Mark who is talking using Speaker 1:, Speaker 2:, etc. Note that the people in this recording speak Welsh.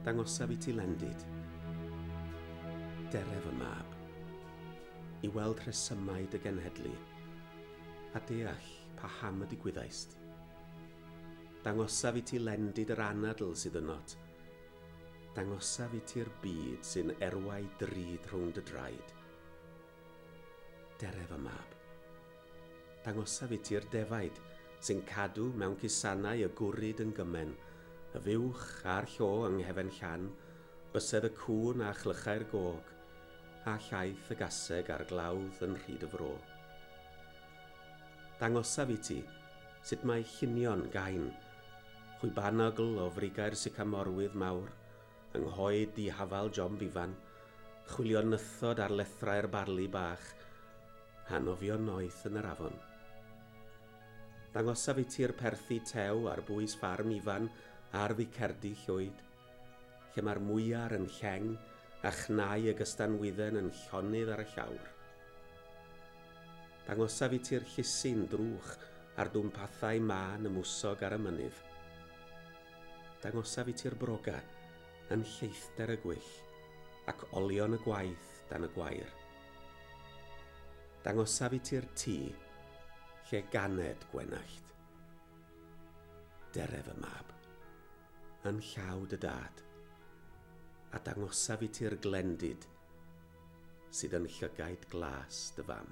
Speaker 1: Dangosaf i ti Lendid. Dere fy mab. I weld rhesymau dy genhedlu, a deall paham y digwyddaist. Dangosaf i ti Lendid yr anadl sydd ynot. Dangosaf i ti'r byd sy'n erwau drud rhwng dy draed. Dere fy mab. Dangosaf i ti'r defaid sy'n cadw mewn cusanau y gwrid yn gymen, y fuwch a'r llo yng nghefen llan, bysedd y cŵn a chlychau'r gog, a llaeth y gaseg a'r glawdd yn rhyd y fro. Dangosaf i ti sut mae llunion gain chwibanogl o frigau'r sycamorwydd mawr Yng nghoed dihafal John Bevan, chwilio nythod ar lethrau'r barli bach, a nofio noeth yn yr afon. Dangosaf i ti'r perthi tew ar bwys ffarm Ifan ar ddicerdy llwyd, lle mae'r mwyar yn lleng a chnau y gystanwydden yn llonydd ar y llawr. Dangosaf i ti'r llusyn drwch a'r dwmpathau mân y mwsog ar y mynydd. Dangosaf i ti'r broga yn lleithder y gwyll ac olion y gwaith dan y gwair. Dangosaf i ti'r tŷ lle ganed gwenallt. Deref y mab yn llaw dy dad, a dangosaf i ti'r glendid sydd yn llygaid glas dy fam.